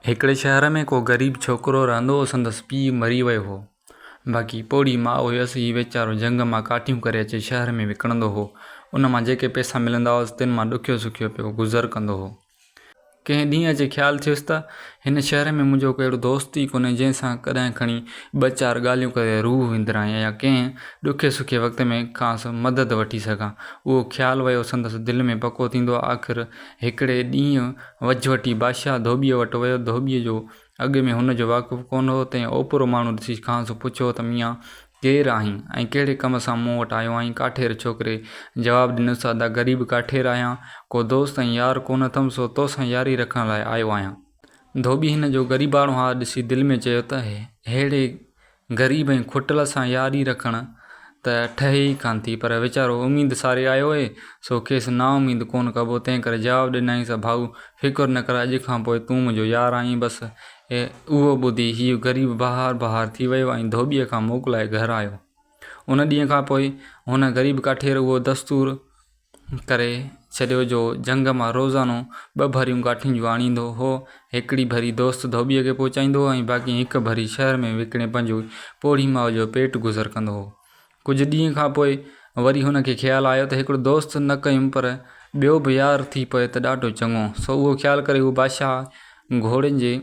هڪڙي شهر ۾ ڪو غريب ڇوڪرو رهندو هو سندس پيء مري ويو هو باقي پوڙهي ماء هيس هي ويچارو جهنگ مان ڪاٺيون ڪري اچي شهر ۾ وڪڻندو هو ان مان جيڪي پئسا ملندا هئس تن مان ڏکيو سکيو پيو گذر ڪندو هو. ڪنهن ڏينهن اچي خيال ٿيس ته هن شهر ۾ منهنجو ڪو اهڙو دوست ئي ڪونهي جنهن سان ڪڏهن کڻي ٻه چار ڳالهيون ڪري روح وندرايان يا ڪنهن ڏکي سکي وقت ۾ کانئس مدد وٺي سگهان اهو خيال ويو سندس دل ۾ پڪو ٿيندو آخر هڪڙي ڏينهن وجهوٽي بادشاهه ڌوٻيء وٽ ويو. ڌوٻيء جو اڳ ۾ هن جو واقف ڪونه هو، تنهن اوپرو ماڻهو ڏسي کانئس پڇيو ته ميان! ڪير آهين ۽ ڪهڙي ڪم سان مون وٽ آيو آهين؟ ڪاٺير ڇوڪري جواب ڏنس، ادا غريب ڪاٺير آهيان، ڪو دوست ۽ يار ڪونه اٿم، سو تو سان ياري رکڻ لاء آيو آهيان. ڌوٻي هن جو غريباڻو حال ڏسي دل ۾ چيو ته ههڙي غريب ۽ کوٽل سان ياري رکڻ ته ٺهي ئي ڪانه ٿي، پر ويچارو اميد ساري آيو هئي، سو کيس نااميد ڪونه ڪبو، تنهن ڪري جواب ڏنائينس، ڀائو! فڪر نه ڪر، اڄ کان پوء تون منهنجو يار آهين بس! اهو ٻڌي هيء غريب بهار بهار ٿي ويو ۽ ڌوٻيء کان موڪلائي گهر آيو. ان ڏينهن کان پوء هن غريب ڪاٺير اهو دستور. ڪري ڇڏيو جو جهنگ مان روزانو ٻه ڀريون ڪاٺين جون آڻيندو هو. هڪڙي ڀري دوست ڌوٻيء کي پهچائيندو هو ۽ باقي هڪ ڀري شهر ۾ وڪڻي پنهنجو پوڙهي ماء جو پيٽ گذر ڪندو هو. ڪجهه ڏينهن کان پوء وري هن کي خيال آيو ته هڪڙو دوست نه ڪيم پر ٻيو به يار ٿي پوي ته ڏاڍو چڱو. سو اهو خيال ڪري هو بادشاهه گهوڙين جي.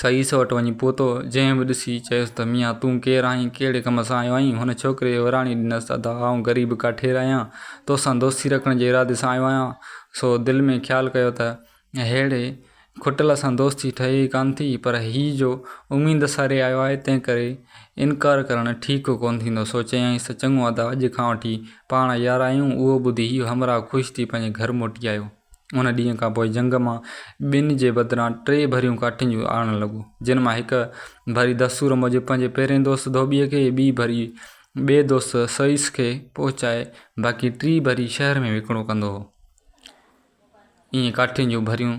سعيس وٽ وڃي پهتو، جنهن به ڏسي، چيس ته ميان تون ڪير آهين، ڪهڙي ڪم سان آيو آهين؟ هن ڇوڪري وراڻي ڏنس ته ادا آئون غريب ڪاٺير آهيان، توسان دوستي رکڻ جي ارادي سان آيو آهيان، سو دل ۾ خيال ڪيو ته ههڙي کٽل سان دوستي ٺهي ئي ڪانه ٿي، پر هي جو اميد ساري آيو آهي، تنهنڪري انڪار ڪرڻ ٺيڪ ڪونه ٿيندو، سو چيائينس ته چڱو ادا اڄ کان وٺي پاڻ يار آهيون، اهو ٻڌي هيء همراهه خوش ٿي پنهنجي گهر موٽي آيو. ان ڏينهن کان پوء جهنگ مان ٻن جي بدران ٽي ڀريون ڪاٺين جون آڻڻ لڳو، جن مان هڪ ڀري دستور موجب پنهنجي پهرئين دوست ڌوٻيء کي ۽ ٻي ڀري ٻئي دوست سوئيس کي پهچائي باقي ٽي ڀري شهر ۾ وڪڻو ڪندو هو. ائين ڪاٺين جون ڀريون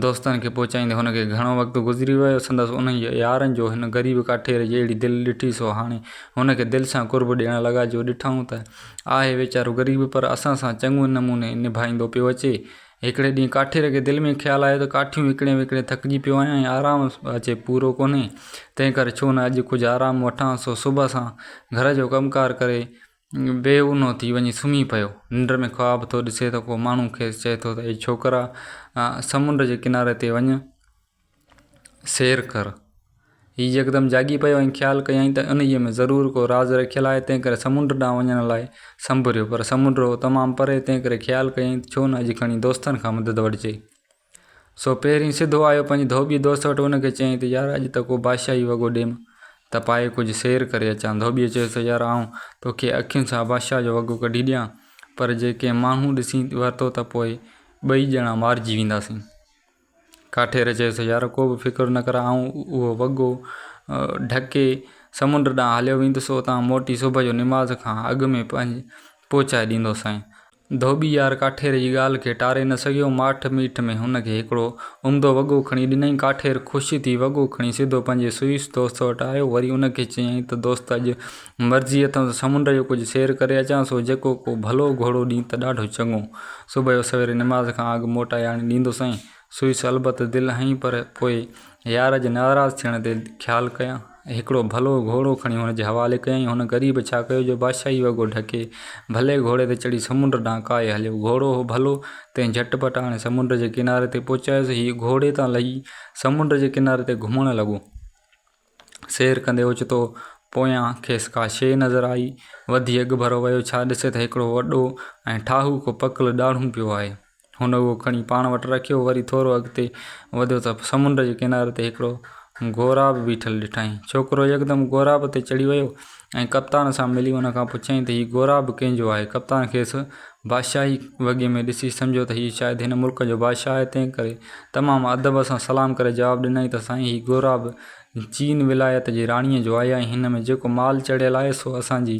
دوستن کي پهچائيندي هن کي گهڻو وقت گذري ويو. سندس انهن يارن جو هن غريب ڪاٺير جي اهڙي دل ڏٺي سو هاڻي هن کي دل سان قرب ڏيڻ لڳا جو ڏٺائون ته آهي ويچارو غريب پر اسان سان چڱو نموني نڀائيندو پيو اچي. هڪڙي ڏينهن ڪاٺير کي دل ۾ خيال آيو ته ڪاٺيون وڪڻي وڪڻي ٿڪجي پيو آهيان ۽ آرام به اچي پورو ڪونهي تنهن ڪري ڇو نه اڄ ڪجهه آرام وٺان سو صبح سان گهر جو ڪم ڪار ڪري بي اونهو ٿي وڃي سمهي پيو. ننڊ ۾ خواب ٿو ڏسي ته ڪو ماڻهو کيس چئي ٿو ته اي ڇوڪرا سمنڊ جي ڪناري تي وڃ. سير ڪر. هيء يڪدم جاڳي پيو ۽ خيال ڪيائين ته انهيء ۾ ضرور ڪو راز رکيل آهي، تنهنڪري سمنڊ ڏانهن وڃڻ لاء سنڀريو. پر سمنڊ هو تمام پري، تنهنڪري خيال ڪيائين ته ڇو نه اڄ کڻي دوستن کان مدد وٺجي. سو پهرين سڌو آيو پنهنجي ڌوٻي دوست وٽ ان کي چيائين ته يار اڄ ته ڪو بادشاهي وڳو ڏيم ته پائي ڪجهه سير ڪري اچان. ڌوٻيء چيس ته يار آئون تو کي اکين سان بادشاهه جو وڳو ڪڍي ڏيان، پر جي ڪنهن ماڻهو ڏسي ورتو ته پوء ٻئي ڄڻا مارجي وينداسين. ڪاٺير چيس، يار ڪو به فڪر نه ڪر، آئون اهو وڳو ڍڪي سمنڊ ڏانهن هليو ويندس، اتان موٽي صبح جو نماز کان اڳ ۾ پهچائي ڏيندوسانء. ڌوٻي يار ڪاٺير جي ڳالهه کي ٽاري نه سگهيو، ماٺ ميٺ ۾ هن کي هڪڙو عمدو وڳو کڻي ڏنائين. ڪاٺير خوش ٿي وڳو کڻي سڌو پنهنجي سوئيس دوست وٽ آيو، وري ان کي چيائين ته دوست اڄ مرضي اٿم ته سمنڊ جو ڪجهه سير ڪري اچان، سو جيڪو ڪو ڀلو گهوڙو ڏين ته ڏاڍو چڱو. صبح جو سويري نماز کان اڳ موٽائي آڻي ڏيندس ۽ سوئيس البت دل هنئي پر پوء يار جي ناراض ٿيڻ تي خيال ڪيان. هڪڙو ڀلو گهوڙو کڻي هن جي حوالي ڪيائين. هن غريب ڇا ڪيو جو بادشاهي وڳو ڍڪي ڀلي گهوڙي تي چڙهي سمنڊ ڏانهن ڪاهي هليو. گهوڙو هو ڀلو، تنهن جهٽ پٽ آڻي سمنڊ جي ڪناري تي پهچايس. هيء گهوڙي تان لهي سمنڊ جي ڪناري تي گهمڻ لڳو. سير ڪندي اوچتو پويان کيس ڪا شيء نظر آئي. وڌي اڳڀرو ويو ڇا ڏسي ته هڪڙو وڏو ۽ ٺاهوڪو پڪل ڏاڙهون پيو آهي. هن اهو کڻي پاڻ وٽ رکيو وري ٿورو اڳتي وڌيو ته سمنڊ جي ڪناري تي هڪڙو غوراب بيٺل ڏٺائين. ڇوڪرو يڪدم غوراب تي چڙهي ويو ۽ ڪپتان سان ملي ان کان پڇيائين ته هي گورا به ڪنهن جو آهي؟ ڪپتان کيس بادشاهي وڳي ۾ ڏسي سمجهيو ته هي شايد هن ملڪ جو بادشاهه آهي تنهن ڪري تمام ادب سان سلام ڪري جواب ڏنائين ته سائين هي گورا به چين ولايت جي راڻيء جو آهي ۽ هن ۾ جيڪو مال چڙهيل آهي سو اسان جي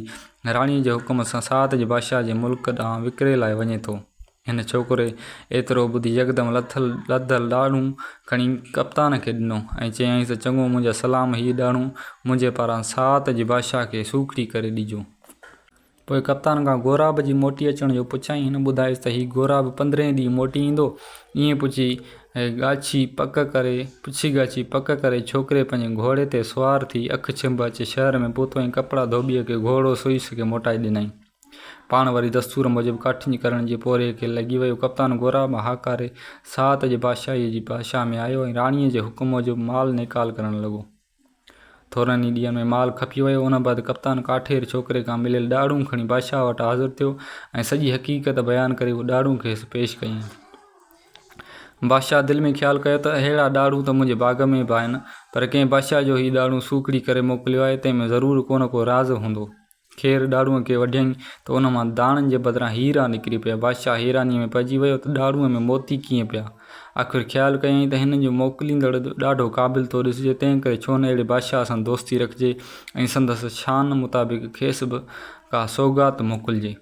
راڻيء جي حڪم سان ساعت جي بادشاهه جي ملڪ ڏانهن وڪري لاء وڃي ٿو. هن ڇوڪري ايترو ٻڌي يڪدم لٿل لڌل ڏاڙهون کڻي ڪپتان کي ڏنو ۽ چيائينس ته چڱو منهنجا سلام هي ڏاڙهون منهنجي پاران ساعت جي بادشاهه کي سوکڙي ڪري ڏجو. پوء ڪپتان کان غوراب جي موٽي اچڻ جو پڇيائين هن ٻڌايس ته هي غوراب پندرهين ڏينهن موٽي ايندو ائين پڇي ڳاڇي پڪ ڪري پڇي ڳاڇي پڪ ڪري ڇوڪري پنهنجي گهوڙي تي سوار ٿي اک ڇنڀ اچي شهر ۾ پهتو ۽ ڪپڙا ڌوٻيء کي گهوڙو سئي سگهي موٽائي ڏنائين. پاڻ وري دستور موجب ڪاٺين ڪرڻ جي پورهيي کي لڳي ويو. ڪپتان گورا به هاڪاري ساعت جي بادشاهيء جي بادشاهه ۾ آيو ۽ راڻيء جي حڪم موجب مال نيڪال ڪرڻ لڳو. ٿورن ئي ڏينهن ۾ مال کپي ويو. ان بعد ڪپتان ڪاٺير ڇوڪري کان مليل ڏاڙهون کڻي بادشاهه وٽ حاضر ٿيو ۽ سڄي حقيقت بيان ڪري اهي ڏاڙهون کيس پيش ڪيائين. بادشاهه دل ۾ خيال ڪيو ته اهڙا ڏاڙهون ته منهنجي باغ ۾ به آهن، پر ڪنهن بادشاهه جو هي ڏاڙهون سوکڙي ڪري موڪليو آهي، تنهن ۾ ضرور ڪو نه ڪو راز هوندو. خير ڏاڙهونء کي وڍيائين ته ان مان داڻن جي بدران هيرا نڪري پيا. بادشاهه حيرانيء ۾ پئجي ويو ته ڏاڙهونء ۾ موتي ڪيئن پيا؟ آخر خيال ڪيائين ته هن جو موڪليندڙ ڏاڍو قابل ٿو ڏسجي، تنهنڪري ڇو نه اهڙي بادشاهه سان دوستي رکجي ۽ سندس شان مطابق کيس به ڪا سوغات موڪلجي.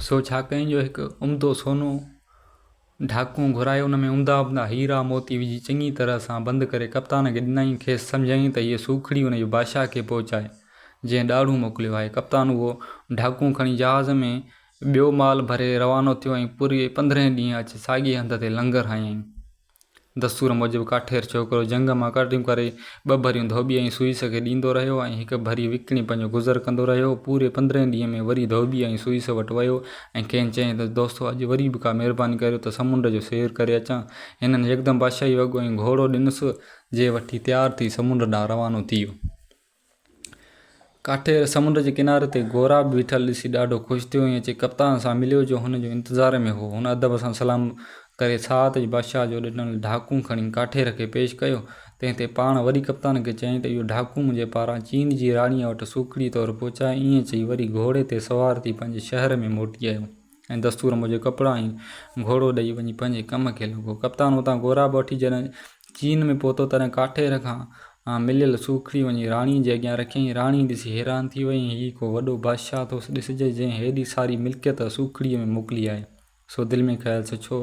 سو ڇا ڪيائين جو هڪ عمدو سونو. ڍاڪون گهرائي ان ۾ عمدا عمدا هيرا موتي وجهي چڱي طرح سان بند ڪري ڪپتان کي ڏنائين، کيس سمجهايائين ته هيء سوکڙي ان جي بادشاهه کي پهچائي، جنهن ڏاڙهون موڪليو آهي. ڪپتان اهو ڍاڪون کڻي جهاز ۾ ٻيو مال ڀري روانو ٿيو ۽ پوري پندرهين ڏينهن اچي ساڳئي هنڌ تي لنگر هنيائين. دستور موجب ڪاٺير ڇوڪرو جهنگ مان ڪرڙيون ڪري ٻه ڀريون ڌوٻي ۽ سوئي سکي ڏيندو رهيو ۽ هڪ ڀري وڪڻي پنهنجو گذر ڪندو رهيو. پوري پندرهين ڏينهن ۾ وري ڌوٻي ۽ سوئيس وٽ ويو ۽ کين چيائين ته دوستو اڄ وري به ڪا مهرباني ڪريو ته سمنڊ جو سير ڪري اچان. هنن يڪدم بادشاهي وڳو ۽ گهوڙو ڏنس. جي وٺي تيار ٿي سمنڊ ڏانهن روانو ٿي ويو. ڪاٺي سمنڊ جي ڪناري تي گورا به بيٺل ڏسي ڏاڍو خوش ٿيو ۽ اچي ڪپتان سان مليو جو هن جو انتظار ۾ هو. هن ادب سان سلام ڪري ساعت جي بادشاهه جو ڏنل ڍاڪون کڻي ڪاٺير کي پيش ڪيو، تنهن تي پاڻ وري ڪپتان کي چيائين ته اهو ڍاڪون منهنجي پاران چين جي راڻيء وٽ سوکڙي طور پهچاء. ائين چئي وري گهوڙي تي سوار ٿي پنهنجي شهر ۾ موٽي آيو. ۽ دستور موجب ڪپڙا ۽ گهوڙو ڏئي وڃي پنهنجي ڪم کي لڳو. ڪپتان اتان گهوڙا به وٺي جڏهن چين ۾ پهتو تڏهن ڪاٺير کان مليل سوکڙي وڃي راڻي جي اڳيان رکيائين. راڻي ڏسي حيران ٿي وئي ۽ هي ڪو وڏو بادشاهه ٿو ڏسجي جنهن هيڏي ساري ملڪيت سوکڙيء ۾ موڪلي آهي. سو دل ۾ خيال سوچيو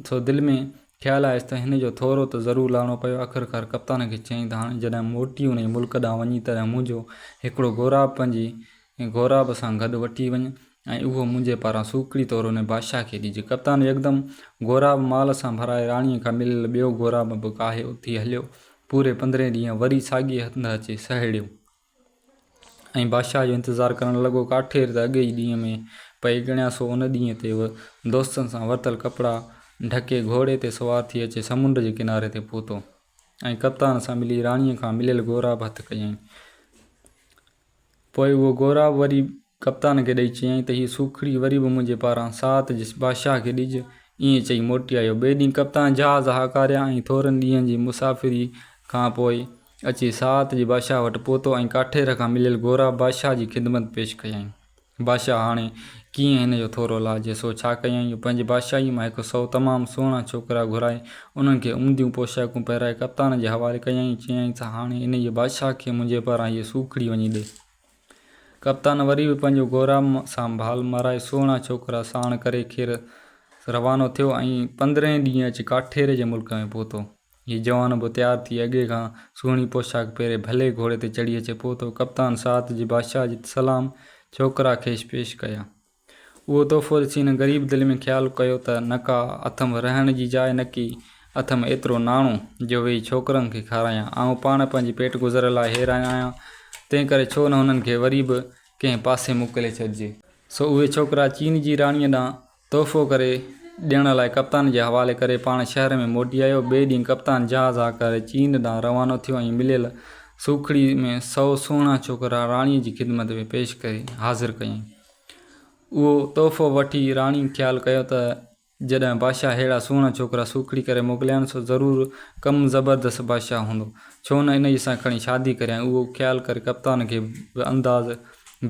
سو دل ۾ خيال آيس ته هن جو ٿورو ته ضرور لاهڻو پيو. آخرڪار ڪپتان کي چيائين ته هاڻي جڏهن موٽي انهيء ملڪ ڏانهن وڃين تڏهن منهنجو هڪڙو غوراب پنهنجي غوراب سان گڏ وٺي وڃ ۽ اهو منهنجي پاران سوکڙي طور انهيء بادشاهه کي ڏجي. ڪپتان يڪدم غوراب مال سان ڀرائي راڻيء کان مليل ٻيو غوراب به ڪاهي اٿي هليو. پوري پندرهين ڏينهن وري ساڳئي هنڌ اچي سهيڙيو. ۽ بادشاهه جو انتظار ڪرڻ لڳو. ڪاٺير ته اڳي ئي ڏينهن ۾ پئي ڳڻيا، سو ان ڏينهن تي هو دوستن سان ورتل ڪپڙا ڍڪي گهوڙي تي سوار ٿي اچي سمنڊ جي ڪناري تي پهتو ۽ ڪپتان سان ملي راڻيء کان مليل غوراب هٿ ڪيائين. پوء اهو غوراب وري ڪپتان کي ڏئي چيائين ته هيء سوکڙي وري به منهنجي پاران ساعت جس بادشاهه کي ڏج. ائين چئي موٽي آيو. ٻئي ڏينهن ڪپتان جهاز هاڪاريا ۽ ٿورن ڏينهن جي مسافريء کان پوء اچي ساعت جي بادشاهه وٽ پهتو ۽ ڪاٺير کان مليل گورا بادشاهه جي خدمت پيش ڪيائين. بادشاهه هاڻي ڪيئن هن جو ٿورو لاهجي سو ڇا ڪيائين؟ پنهنجي بادشاهيء مان هڪ سئو تمام سهڻا ڇوڪرا گهرائي انهن کي عمديون پوشاڪون پهرائي ڪپتان جي حوالي ڪيائين ۽ چيائين ته هاڻي انهيء بادشاهه کي منهنجي پاران هيء سوکڙي وڃي ڏي. ڪپتان وري به پنهنجو گورا سانڀال مارائي سهڻا ڇوڪرا ساڻ ڪري کير روانو ٿيو ۽ پندرهين ڏينهن اچي ڪاٺيري جي ملڪ ۾ پهتو. هي جوان به تيار ٿي اڳي کان سهڻي پوشاڪ پهري ڀلي گهوڙي تي چڙهي اچي پهتو. ڪپتان ساعت جي بادشاهه جي سلام ڇوڪرا کيس پيش ڪيا. اهو تحفو ڏسي هن غريب دل ۾ خيال ڪيو ته نڪا اٿم رهڻ جي جاء نڪي اٿم ايترو ناڻو جو ويهي ڇوڪرن کي کارايان. آئون پاڻ پنهنجي پيٽ گذر لاء حيران آهيان، تنهن ڪري ڇو نه هنن کي وري به ڪنهن پاسي موڪلي ڇڏجي. سو اهي ڇوڪرا چين جي راڻيء ڏانهن تحفو ڪري ڏيڻ لاء ڪپتان جي حوالي ڪري پاڻ شهر ۾ موٽي آيو. ٻئي ڏينهن ڪپتان جهاز آ ڪري چين ڏانهن روانو ٿيو ۽ مليل سوکڙي ۾ سؤ سهڻا ڇوڪرا راڻيء جي خدمت ۾ پيش ڪري حاضر ڪيائين. اهو تحفو وٺي راڻي خيال ڪيو ته جڏهن بادشاهه اهڙا سهڻا ڇوڪرا سوکڙي ڪري موڪليانس سو ضرور ڪم زبردست بادشاهه هوندو، ڇو نه انهيء سان کڻي شادي ڪريان. اهو خيال ڪري ڪپتان کي به انداز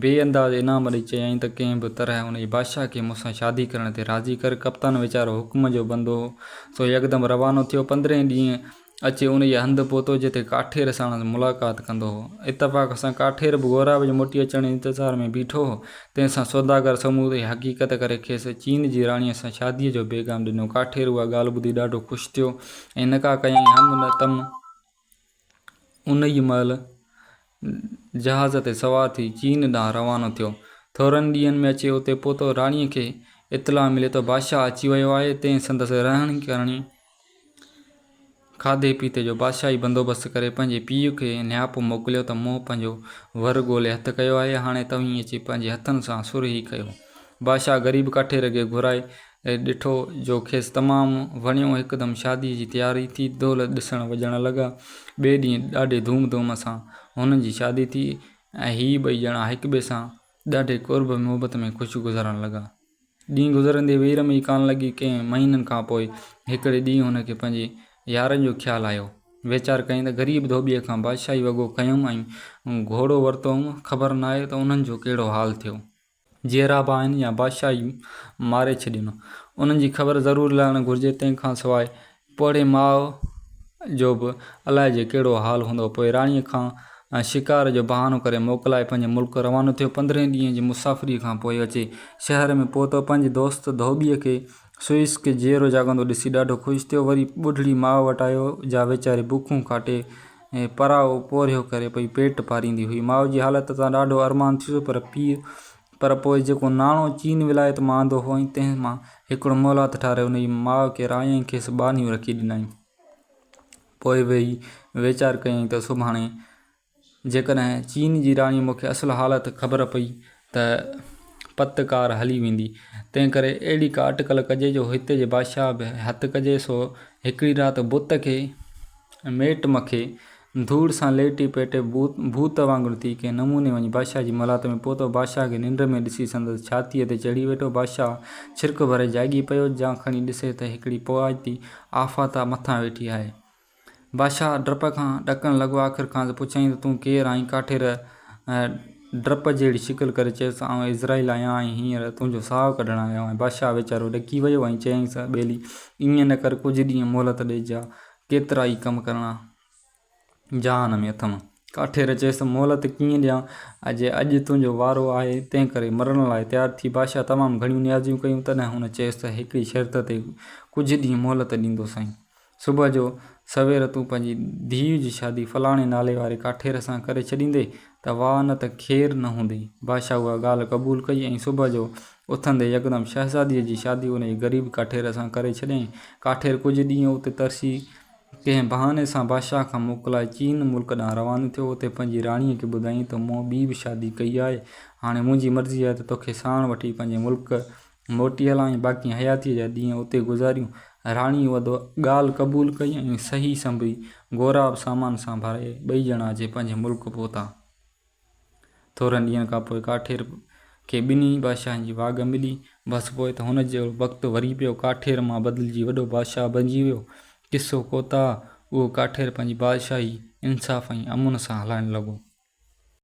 بي انداز انعام ڏئي چيائين ته ڪنهن به طرح انهيء بادشاهه کي مون سان شادي ڪرڻ تي راضي ڪر. ڪپتان ويچارو حڪم جو بندو هو سو يڪدم روانو ٿيو. پندرهين ڏينهن اچي انهيء هنڌ پهتو، جتي ڪاٺير ساڻس ملاقات ڪندو هو. اتفاق سان ڪاٺير به غوراب جي موٽي اچڻ جي انتظار ۾ بيٺو هو. تنهن سان سوداگر سموري حقيقت ڪري کيس چين جي راڻيء سان شاديء جو پيغام ڏنو. ڪاٺير اها ڳالهه ٻڌي ڏاڍو خوش ٿيو ۽ نڪاح ڪيائين. هم نتم انهيء مهل جهاز تي سوار ٿي چين ڏانهن روانو ٿيو. ٿورن ڏينهن ۾ اچي اتي پهتو. راڻيء کي اطلاع ملي ته بادشاهه اچي ويو آهي. تنهن سندس رهڻي ڪرڻي، کاڌي پيتي جو بادشاهي بندوبست ڪري پنهنجي پيء کي نياپو موڪليو ته مون پنهنجو ور ڳولي هٿ ڪيو آهي، هاڻي توهين اچي پنهنجي هٿن سان سرهي ڪيو. بادشاهه غريب ڪاٺي رڳي گهرائي ڏٺو، جو کيس تمام وڻيو، هڪدم شاديء جي تياري ٿي، دهل ڏسڻ وڄڻ لڳا. ٻئي ڏينهن ڏاڍي ڌوم ڌوم سان هنن جي شادي ٿي ۽ هي ٻئي ڄڻا هڪٻئي سان ڏاڍي قرب محبت ۾ خوش گذارڻ لڳا. ڏينهن گذرندي وير ۾ ئي ڪان لڳي ڪئين مهينن کان پوء هڪڙي ڏينهن هن کي پنهنجي يارن جو خيال آيو. ويچار ڪيائين ته غريب ڌوٻيء کان بادشاهي وڳو کنيم ۽ گهوڙو ورتو هوم، خبر ناهي ته انهن جو ڪهڙو حال ٿيو. جيئرا به آهن يا بادشاهه ئي ماري ڇڏين. انهن جي خبر ضرور لهڻ گهرجي، تنهن کان سواء پوڙهي ماء جو به الائي جي ڪهڙو حال هوندو. پوء راڻيء کان شڪار جو بهانو ڪري موڪلائي پنهنجي ملڪ روانو ٿيو. پندرهين ڏينهن جي مسافريء کان پوء اچي شهر ۾ پهتو. پنهنجي دوست ڌوٻيء کي سوئيس کي جيئرو جاڳندو ڏسي ڏاڍو خوش ٿيو. وري ٻڍڙي ماء وٽ آيو، جا ويچاري بکون ڪاٽي پراء پورهيو ڪري پئي پيٽ پاريندي هئي. ماء جي حالت تان ڏاڍو ارمان ٿيس پر پيء پر پوء جيڪو ناڻو چين ولايت مان آندو هئائين، تنهن مان هڪڙو مولات ٺاري ان جي ماء ڪيرائين ۽ کيس ٻانهيون رکي ڏنائين. پوء ويهي ويچار ڪيائين ته سڀاڻي جيڪڏهن چين جي راڻي مون کي اصل حالت خبر پئي ته پت ڪار هلي ويندي. تنهنڪري اهڙي ڪا اٽڪل ڪجي جو هتي جي بادشاهه به هٿ ڪجي سو هڪڙي رات بت کي. ميٽ مکي ڌوڙ سان ليٽي پيٽي ڀوت وانگر ٿي ڪنهن نموني وڃي بادشاهه جي ملات ۾ پهتو. بادشاهه کي ننڊ ۾ ڏسي سندس ڇاتيء تي چڙهي ويٺو. بادشاهه ڇرڪ ڀري جاڳي پيو. جيان کڻي ڏسي ته هڪڙي پوئاتي آفاتا مٿان ويٺي آهي. بادشاهه ڊپ کان ڏڪڻ لڳو. آخر کانئس پڇيائين ته تون ڪير آهين؟ ڪاٺير ڊپ جهڙي شڪل ڪري چيس، آئون عزرائيل آهيان ۽ هينئر تنهنجو ساهه ڪڍڻ آيو آهيان. بادشاهه ويچارو ڏڪي ويو ۽ چيائينس، اي ٻيلي، ائين نه ڪر، ڪجهه ڏينهن مهلت ڏيجان، ڪيترائي ڪم ڪرڻا جهان ۾ اٿم. ڪاٺير چيس، مهلت ڪيئن ڏيان، اجي اڄ تنهنجو وارو آهي، تنهنڪري مرڻ لاء تيار ٿي. بادشاهه تمام گهڻيون نيازيون ڪيون، تڏهن هن چيس ته هڪڙي شرط تي ڪجهه ڏينهن مهلت ڏيندوسانء. صبح جو سوير تون پنهنجي ڌيء جي شادي فلاڻي نالي واري ڪاٺير سان ڪري ڇڏيندي ته واهه نه ته خير نه هوندي. بادشاهه اها ڳالهه قبول ڪئي ۽ صبح جو اٿندي يڪدم شهزاديء جي شادي ان ئي غريب ڪاٺير سان ڪري ڇڏيائين. ڪاٺير ڪجهه ڏينهن اتي ترسي ڪنهن بهاني سان بادشاهه کان موڪلائي چين ملڪ ڏانهن روانو ٿيو. اتي پنهنجي راڻيء کي ٻڌايائين ته مون ٻي به شادي ڪئي آهي. هاڻي منهنجي مرضي آهي ته توکي ساڻ وٺي پنهنجي ملڪ موٽي هلان ۽ باقي حياتيء جا ڏينهن اتي گذاريون. راڻي اها ڳالهه قبول ڪئي ۽ صحيح سنبري، غوراب سامان سان ڀرائي، ٻئي ڄڻا اچي پنهنجي ملڪ پهتا. ٿورن ڏينهن کان پوء ڪاٺير کي ٻنهي بادشاهن جي واڳ ملي. بس پوء ته هن جو وقت وري پيو. ڪاٺير مان بدلجي وڏو بادشاهه بنجي ويو. قصو ڪوتاهه، اهو ڪاٺير پنهنجي بادشاهي انصاف ۽ امن سان هلائڻ لڳو.